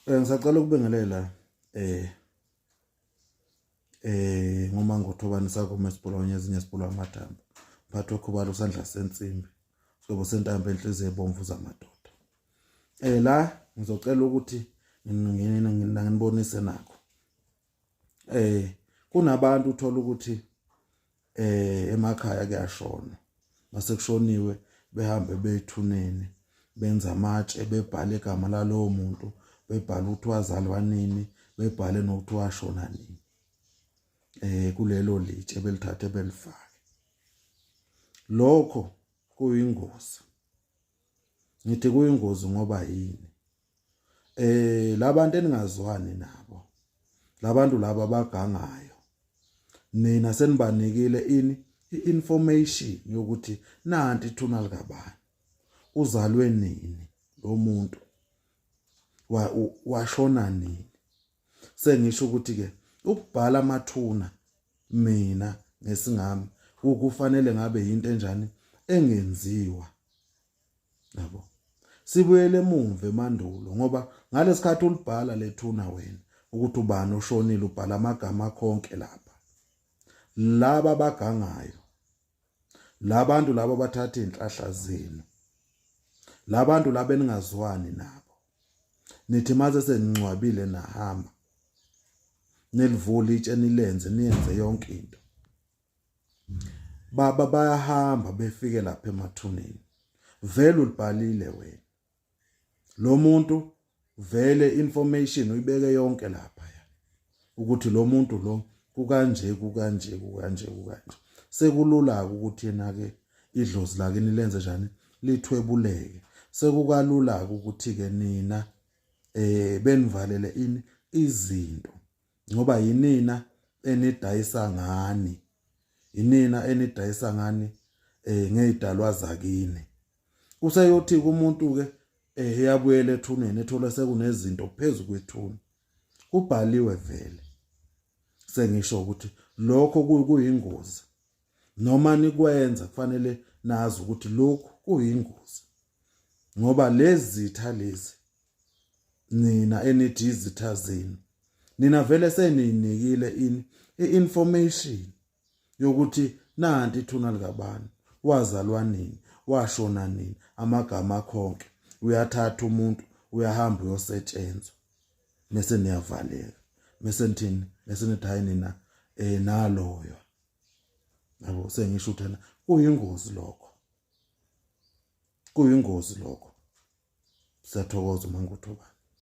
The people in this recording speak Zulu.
Eh ngisacela ukubingelela eh eh ngoma ngothobani sakho mesibulonye ezinye sibulwa amathambo phathi okhubalo sandla sensimbi sobo sentambo enhliziyo ebomvu zamadoda eh la ngizocela ukuthi nginibonise nakho eh kunabantu uthola ukuthi eh emakhaya kuyashona base kushoniwe behambe bethuneni benza amatshe bebhale igama lalowo muntu bebhale ukuthi wazalwa nini bebhale nokuthi washona nini eh kulelo litshe belithathe belifake lokho kuyingozi ngithi kuyingozi ngoba yini eh labantu eningazwani nabo labantu laba bagangayo nina senibanikile ini i-information yokuthi nanti ithuna likabani uzalwe nini lo muntu washona nini sengisho ukuthi ke ukubhala amathuna mina ngesingami ukufanele ngabe yinto enjani engenziwa yabo sibuyele emuva emandulo ngoba ngalesikhathi ulibhala lethuna wena ukuthi ubani oshonile ubhala amagama konke lapha laba bagangayo labantu laba bathatha inhlahla zenu labantu laba eningazwani nabo nithi maze seningcwabile nahamba nilivula itshe nilenze niyenze yonke into baba bayahamba befike lapha emathuneni vele ulibhalile wena lo muntu vele information uyibeke yonke lapha ya ukuthi lo muntu lo kukanje kukanje kukanje kukanje sekulula ukuthi yena ke idlozi lakini lenze njani lithwebuleke sekukalula ukuthi ke nina eh benivalele ini izinto ngoba yinina enidayisa ngani yinina enidayisa ngani eh ngezidalwa zakini useyothi kumuntu ke eh eyabuyela ethuneni ethola sekunezinto phezulu kwethuna kubhaliwe vele sengisho ukuthi lokho kuyingozi noma nikwenza kufanele nazi ukuthi lokhu kuyingozi ngoba lezi zitha lezi nina enithi izitha zenu nina vele seniyinikile ini i-information yokuthi nanti ithuna likabantu wazalwa nini washona nini amagama akhonke uyathatha umuntu uyahamba uyosetshenzwa mese niyavaleka mese nithini mese nithi hayi nina eh naloyo yabo sengisho uthana kuyingozi lokho kuyingozi lokho siyathokoza uma ngikuthobani